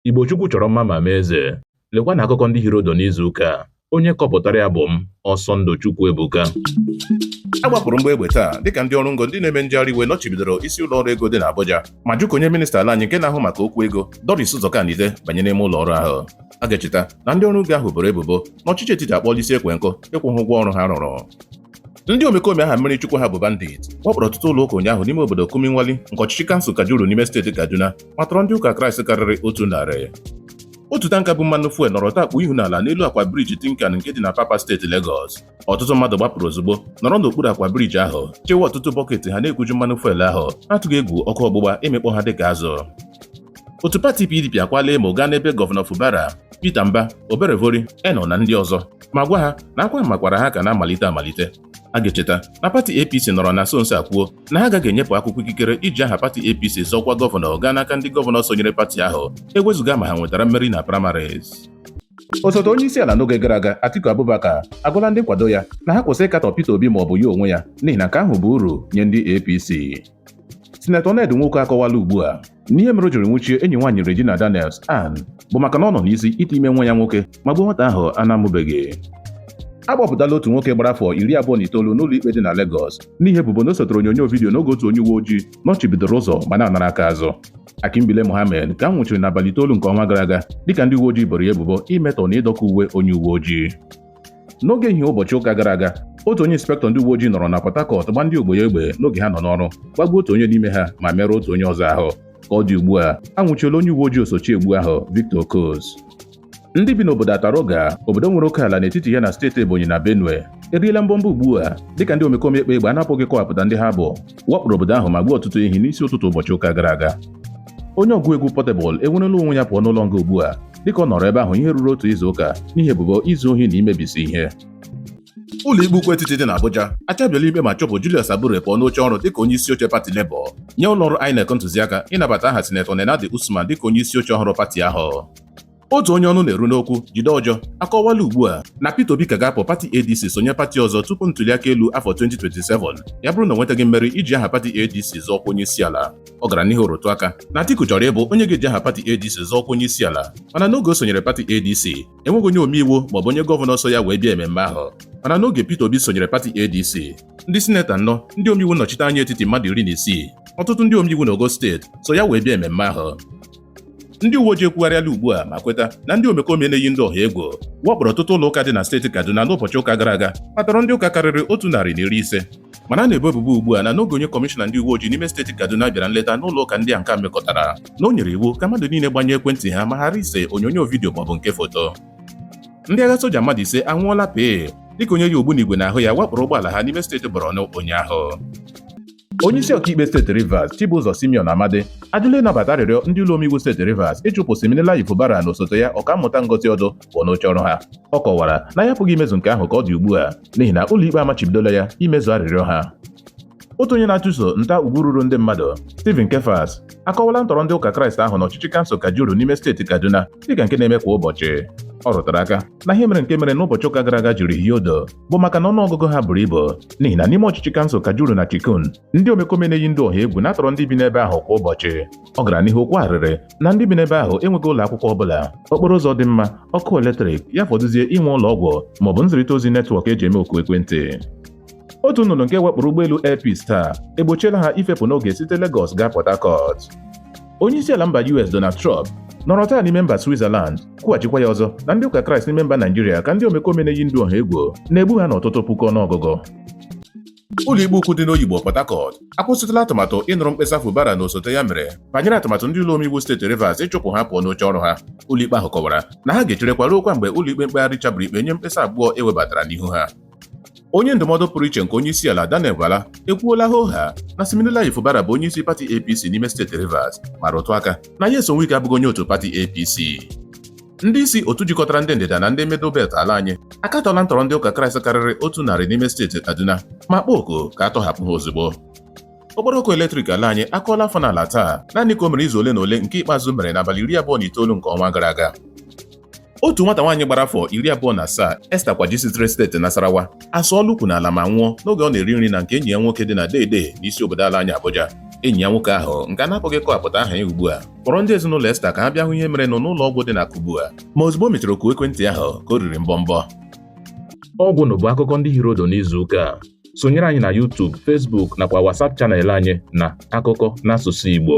Igbo Chukwu chọrọ mma ma mee eze. Lekwa na akụkọ ndị hiri ụdụ n'izu ụka a. Onye kọpụtara ya bụ m, Ọsọndụ Chukwuebuka. A gbapụrụ mgbọ egbe taa dịka ndị ọrụ ngo ndị na-eme njegharị iwe nọchibidoro isi ụlọ ọrụ ego dị n'Abuja ma jụ ka onye minista ala anyị nke na-ahụ maka okwu ego Doris Uzoka-Anite banye n'ime ụlọ ọrụ ahụ a ga-echeta na ndị ọrụ ngo ahụ boro ebubo na ọchịchị etiti akpọọla isi ekwe nkụ ịkwụ ha ụgwọ ọrụ ha rụrụ ndị omekome aha mmiri chukwu ha bụ bandit wakporo ọtụtụ ụlọ ụka ụnyaahụ n'ime obodo Kurmin Wali nke ọchịchị kansụl Kajuru n'ime steeti Kaduna ma tọrọ ndị ụka Kraịst karịrị otu narị otu tanka bu mmanụ fuel nọrọ dakpu ihu n'ala n'elu akwa briji Tincan nke dị n'Apapa steeti Legọs ọtụtụ mmadụ gbapụrụ ozugbo nọrọ n'okpuru akwa briji ahụ chewe ọtụtụ bọket ha na-ekuju mmanụ fuel ahụ n'atụghị egwu ọkụ ọgbụgba ịmịkpọ ha dịka azụ otu pati PDP akwala emo gaa n'ebe gọvanọ Fubara Peter Mba Oborevwori Eno na ndị ọzọ ma gwa ha na akwa mmakwaara ha ka na-amalite amalite a ga-echeta na pati APC nọrọ na nso nso a kwuo na ha agaghị enyepụ akwụkwọ ikikere iji aha pati APC zọọ ọkwa gọvanọ gaa n'aka ndị gọvanọ sonyere pati ahụ ewezụga ma ha nwetara mmeri na primaries osote onye isi ala n'oge gara aga Atiku Abubakar agwala ndị nkwado ya na ha kwụsị ịkatọ Peter Obi ma ọ bụ ya onwe ya n'ihi na nke ahụ bụ uru nye ndị APC sinetọ Ned Nwoko akọwala ugbu a na ihe mere o jiri nwụchie enyi nwaanyị Regina Daniels Ann bụ maka na ọ nọ n'isi ite ime nwa ya nwoke ma gbuo nwata ahụ a na-amụbeghị a gbapụtala otu nwoke gbara afọ iri abụọ na itoolu n'ụlọ ikpe dị na Lagos n'ihi ebubo na o setere onyonyo vidiyo n'oge otu onye uwe ojii nọchibidoro ụzọ ma na-anara aka azụ Akimbile Mohammed ka a nwụchiri n'abalị itoolu nke ọnwa gara aga dịka ndị uwe ojii boro ya ebubo imetọ na ịdọka uwe onye uwe ojii n'oge ehihie ụbọchị ụka gara aga otu onye inspektọ ndị uwe ojii nọrọ na Port Harcourt gbaa ndị ogbo ya egbe n'oge ha nọ n'ọrụ gbagbuo otu onye n'ime ha ma merụọ otu onye ọzọ ahụ ka ọ dị ugbu a anwụchiela onye uwe ojii osochi egbu ahụ Victor Okus ndị bi n'obodo Ataroga obodo nwere oke ala n'etiti ya na steeti Ebonyi na Benue eriela mbọmbọ ugbu a dịka ndị omekome ekpe egbe a na-apụghị ịkọwapụta ndị ha bụ wakporo obodo ahụ ma gbuo ọtụtụ ehi n'isi ụtụtụ ụbọchị ụka gara aga onye ọgụ egwu Portable enwerela onwe ya pụọ n'ụlọ nga ugbu a dịka ọ nọrọ ebe ahụ ihe ruru otu izu ụka n'ihi ebubo izu ohi na imebisi ihe ụlọikpe ukwu etiti dị n'Abuja achabiela ikpe ma chụpụ Julius Abure pụọ n'oche ọrụ dịka onye isi oche pati Labour nye ụlọọrụ INEC ntụziaka ịnabata aha sinetọ Nenadi Usman dịka onye isi oche ọhụrụ pati ahụ otu onye ọnụ na-eru n'okwu Jide Ojo akọwala ugbu a na Peter Obi ka ga-apụ pati ADC sonye pati ọzọ tupu ntuliaka elu afọ 2027 ya bụrụ na o nwetaghị mmeri iji aha pati ADC zọọ ọkwa onye isi ala Ọ gara n'ihu rụtụ aka na Atiku chọrọ ịbụ onye ga-eji aha pati ADC zọọ ọkwa onye isi ala mana n'oge o sonyere pati ADC enweghị onye omeiwu maọbụ onye gọvanọ so ya wee bịa ememme ahụ mana n'oge Peter Obi sonyere pati ADC ndị sineta anọ ndị omeiwu nnọchite anya etiti mmadụ iri na isii ọtụtụ ndị omeiwu n'ogo steeti so ya wee bịa ememme ahụ ndị uwe ojii ekwugharịala ugbu a ma kweta na ndị omekome na-eyi ndị ọha egwu wakpọrọ ọtụtụ ụlọ ụka dị na steeti Kaduna n'ụbọchị ụka gara aga ma tọrọ ndị ụka karịrị otu narị na iri ise mana a na-ebo ebubo ugbu a na n'oge onye kọmishọna ndị uwe ojii n'ime steeti Kaduna bịara nleta n'ụlọ ụka ndị a nke a mekọtara na o nyere iwu ka mmadụ niile gbanyụọ ekwentị ha ma ghara ise onyonyo vidiyo maọbụ nke foto ndị agha soja mmadụ ise anwụọla pee dịka onye yi ogbunigwe n'ahụ ya wakporo ụgbọala ha n'ime steeti Borno ụnyaahụ onyeisi ọkaikpe steeti Rivers Chibụzọ Simeon Amadi ajụla ịnabata arịrịọ ndị ụlọ omeiwu steeti Rivers ịchụpụ Siminalayi Fubara na osote ya ọkammụta Ngozi Ọdụ pụọ n'oche ọrụ ha ọ kọwara na ya apụghị imezu nke ahụ ka ọ dị ugbu a n'ihi na ụlọikpe amachibidola ya imezu arịrịọ ha otu onye na-achụso nta ugwu ruru ndị mmadụ Stephen Kefas akọwala ntọrọ ndị ụka Kraịst ahụ n'ọchịchị kansụl Kajuru n'ime steeti Kaduna dịka nke na-eme kwa ụbọchị ọ rụtara aka na ihe mere nke mere n'ụbọchị ụka gara aga jiri hie odo bụ maka na ọnụọgụgụ ha buru ibu n'ihi na n'ime ọchịchị kansụl Kajuru na Chikun ndị omekome na-eyi ndụ ọha egwu na-atọrọ ndị bi n'ebe ahụ kwa ụbọchị ọ gara n'ihu kwaa arịrị na ndị bi n'ebe ahụ enweghị ụlọ akwụkwọ ọbụla okporo ụzọ dị mma ọkụ eletrik ya fọdụzie inwe ụlọ ọgwụ maọbụ nzirịta ozi netwọk e ji eme oku ekwentị otu nnụnụ nke wakporo ụgbọelu Air Peace taa egbochiela ha ifepụ n'oge site Lagos gaa Port Harcourt Onyeisiala mba US Donald Trump nọrọ taa n'ime mba Switzerland kwughachikwa ya ọzọ na ndị ụka Kraịst n'ime mba Naijiria ka ndị omekome na-eyi ndụ ọha egwu na-egbu ha n'ọtụtụ puku ọnụọgụgụ ụlọikpe ukwu dị n'Oyigbo Port Harcourt akwụsịtụla atụmatụ ịnụrụ mkpesa Fubara na osote ya mere banyere atụmatụ ndị ụlọ omeiwu steeti Rivers ịchụpụ ha pụọ n'oche ọrụ ha ụlọikpe ahụ kọwara na ha ga-echerekwa ruokwa mgbe ụlọikpe mkpegharị chabiri ikpe nye mkpesa abụọ e webatara n'ihu ha Onye ndụmọdụ pụrụ iche nke onyeisiala Daniel Bwala ekwuola hoohaa na Siminalayi Fubara bụ onyeisi pati APC n'ime steeti Rivers ma rụtụ aka na Nyesom Wike abụghị onye otu pati APC. Ndị isi otu jikọtara ndị ndịda na ndị middle belt ala anyị akatọla ntọrọ ndị ụka Kraịst karịrị otu narị n'ime steeti Kaduna ma kpọọ oku ka a tọhapụ ha ozugbo. Okporo ọkụ eletrik ala anyị akụọla afọ n'ala taa naanị ka o mere izu ole na ole nke ikpeazụ mere n'abalị iri abụọ na itoolu nke ọnwa gara aga. otu nwata nwaanyị gbara afọ iri abụọ na asaa Esther Kwaji sitere steeti Nasarawa asụọla ukwu n'ala ma nwụọ n'oge ọ na-eri nri na nke enyi ya nwoke dị na Dei-Dei n'isi obodo ala anyị Abuja enyi ya nwoke ahụ nke a na-apụghị kọwapụta aha ya ugbu a kpọrọ ndị ezinụlọ Esther ka ha bịa hụ ihe merenụ n'ụlọ ọgwụ dị na Kubwa ma ozugbo o mechara oku ekwentị ahụ ka o riri mbọmbọ ọgwụ na bụ akụkọ ndị hiri odo n'izu ụka a sonyere anyị na YouTube, Facebook nakwa WhatsApp channel anyị na akụkọ n'asụsụ Igbo